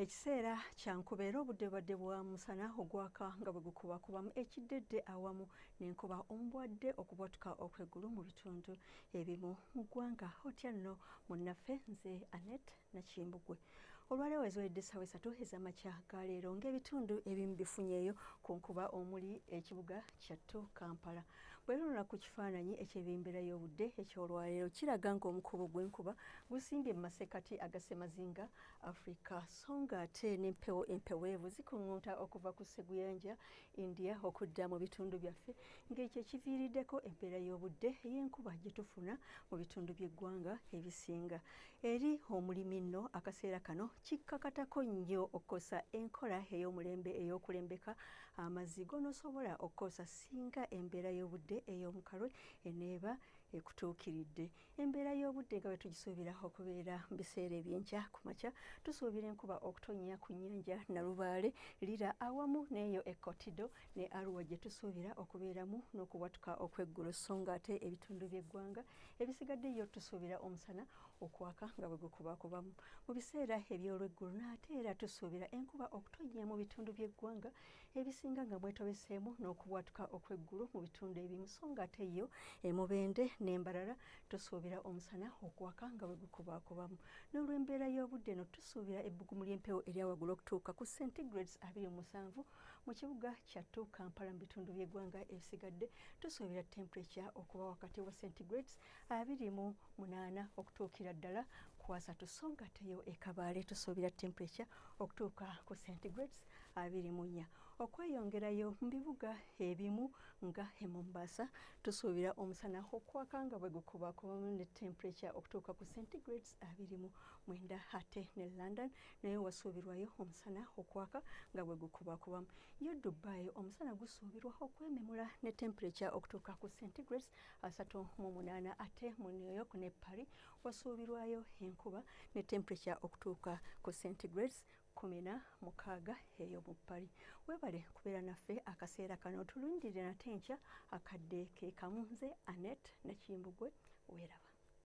ekiseera kya nkuba era obudde bubadde bwa musana ogwaka nga bwe gukubakubamu ekiddedde awamu n'enkuba omubwadde okubwatuka okw'eggulu mu bitundu ebimu mu ggwanga otya nno munnaffe nze anet nakimbugwe olwaleero eziwedde essaawa esatu ez'amakya ga leero ng'ebitundu ebimu bifunyeeyo ku nkuba omuli ekibuga kyattu kampala Bwerula ku kifaananyi eky'ebyembeera y'obudde eky'olwaleero kiraga ng'omukubo gw'enkuba gusimbye mu masekkati aga ssemazinga Afrika so ng'ate n'empewo empeweevu zikuŋŋunta okuva ku sseguyanja India okudda mu bitundu byaffe ng'ekyo ekiviiriddeko embeera y'obudde ey'enkuba gye tufuna mu bitundu by'eggwanga ebisinga. Eri omulimi nno akaseera kano kikkakatako nnyo okukosa enkola ey'omulembe ey'okulembeka amazzi gonosobola okukozesa singa embeera y'obudde ey'omukalwe eneeba ekutuukiridde embeera y'obudde nga bwe tugisuubira okubeera mu biseera ebyenkya ku makya tusuubira enkuba okutonnya ku nnyanja nalubaale lira awamu n'eyo ekkotido ne aruwa gye tusuubira okubeeramu n'okubwatuka okweggulo so nga ate ebitundu by'eggwanga ebisigaddeyo tusuubira omusana okwaka nga bwe gukubakubamu mu biseera eby'olweggulo n'ate era tusuubira enkuba okutonnya mu bitundu by'eggwanga ebisinga nga mwetobeseemu n'okubwatuka okw'eggulu mu bitundu ebimu so ng'ate yo emubende n'embarara tusuubira omusana okwaka nga bwe gukubakubamu n'olw'embeera y'obudde eno tusuubira ebbugumu ly'empewo eryawaggulu okutuuka ku centigrades abiri omusanvu mu kibuga kyattu kampala mu bitundu by'eggwanga ebisigadde tusuubira temperature okuba wakati wa centigrades abiri mu munaana okutuukira ddala ku asatu so nga teyo ekabaale tusuubira temperature okutuuka ku centigrades abiri mu nnya okweyongerayo mu bibuga ebimu nga e mombasa tusuubira omusana okwaka nga bwe gukubakuba ne temperature okutuuka ku centigrades abiri mu mwenda ate ne london naye wasuubirwayo omusana okwaka nga bwe gukubakubamu yo dubai omusana gusuubirwa okwememula ne temperature okutuuka ku centigrades asatu mu munaana ate mu new york ne paris wasuubirwayo enkuba ne temperature okutuuka ku centigrades kumi na mukaaga eyo mu pali webale kubeera naffe akaseera kano tulundirire nate nkya akadde ke kamu nze anet nakimbugwe weeraba